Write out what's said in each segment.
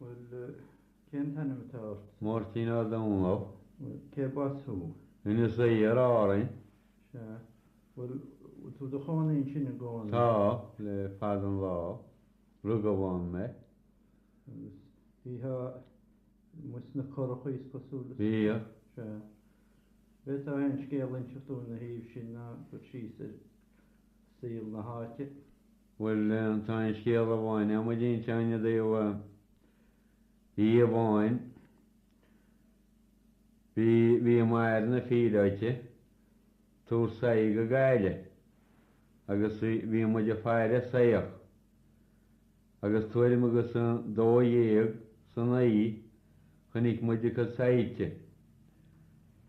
Bhuel, cén t-ainm atá ort? Máirtín Ó Domhnaill. Bhuel, cé b'as thú? Inis Oírr, Árainn. Sea. Bhfuil tú i do chónaí ansin i gcónaí? Tá, le fada an lá. Rugadh ann mé. Agus bhítheá amuigh sna curachaí, is cosúil, is? Bhíodh. Sea. An bhféadfá aon scéal a inseacht dúinn ina thaobh sin ná cur síos ar shaol na háite. Bhuel, tá aon scéal amháin agam a d'inseoinn i dtaobh oíche amháin. Bhí, bhí m'athair ina phíolóta ag tabhairt soithí go Gaillimh agus bhí, bhí muid ag faire soitheach agus tuairim agus a dó dhéag san oíche Chonaic muid a cuid soilse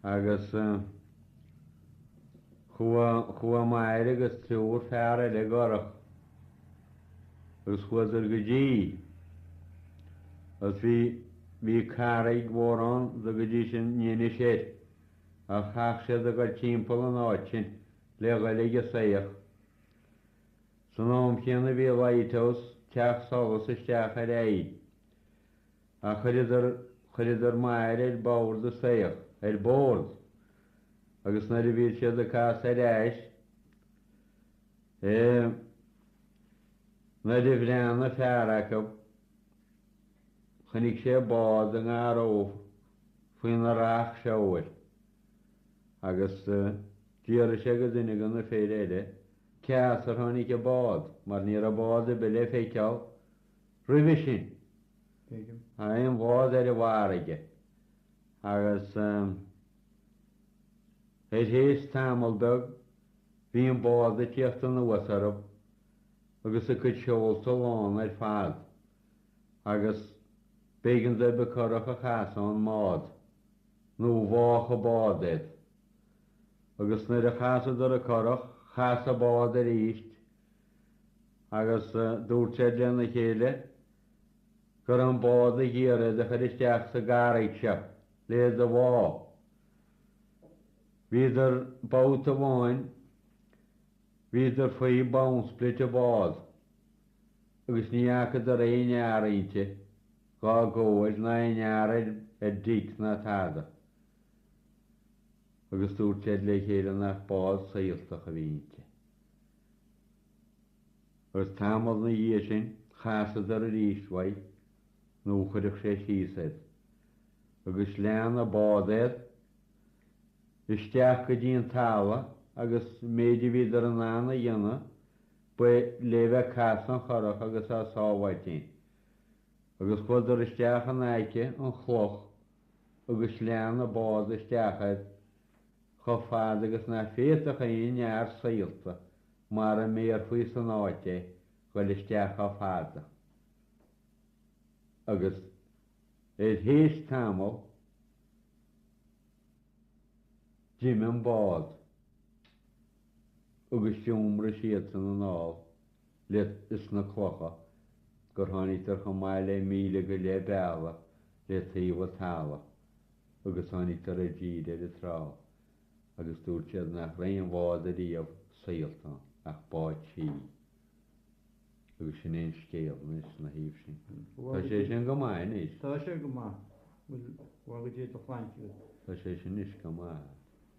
agus chuaigh m'athair agus triúr fear eile i gcurach agus chuadar go dtí agus bhí carraig mhór ann a dtugtaí an Fhinnis air ach chaith siad a ghoil timpeall an áit sin le dhul ag an soitheach. San am chéanna bhí Lighthouse, teach solais isteach ar aghaidh. ach chuireadar, chuireadar m'athair ar bord an tsoithigh, ar bord, agus nuair a bhí siad ag casadh ar ais, eh, nuair a bhreathnaigh fear acu, chonaic sé bád i ngar dhóibh, faoina racht seoil, agus, eh, d'fhiafraigh sé de dhuine de na fir eile cé as ar tháinig an bád, mar ní raibh bád ar bith le feiceáil. roimhe sin, ná aon bhád ar an bhfarraige, agus thar éis tamall beag bhí an bád ag tíocht anuas orthu agus a cuid seolta lán ar fad, agus b'éigean dóibh an curach a chasadh ón mbád, nó bháfadh an bád iad. Agus nuair a chasadar an curach, chas an bád arís, agus dúirt siad lena chéile go raibh an bád ag iarraidh iad a chur isteach sa gcarraig seo le iad a bhá. Bhíodar babhta amháin, bhíodar faoi bhowsprit an bháid, agus ní fhacadar aon fhear inti dhá gcomhair ná aon fhear ar deic ná tada, agus dúirt siad le chéile nach bád saolta a bhí inti. Agus tamall ina dhiaidh sin chasadar aríst uaidh nó chuirfeadh sé síos iad. Agus lean a' bád iad isteach go dtí an talamh agus an méid a bhíodar in ann a dhéanamh ba lé bheith casadh an churach agus á sábháilt fhéin. Agus chuadar isteach in aice an chloch agus lean a' bád isteach iad Chomh fada agus nach bhféadfadh aon fhear saolta, mara mbéarfaí san áit é, dhul isteach chomh fada agus, ar théis tamaill, d'imigh an bád agus d'iomraigh siadsan anall leis na clocha gur tháinigdar chomh maith le míle go leith bealaigh le taobh an talamh. agus tháinigdar i dtír ar an trá agus dúirt siad nach raibh aon bhád ariamh saolta ach bád sí. Agus sin é an scéal anois ina thaobh sin. Tá sé sin go maith anois. Tá sé go maith. Bhuel, bhagaigí do chlainntibh. Tá sé sin anois go maith.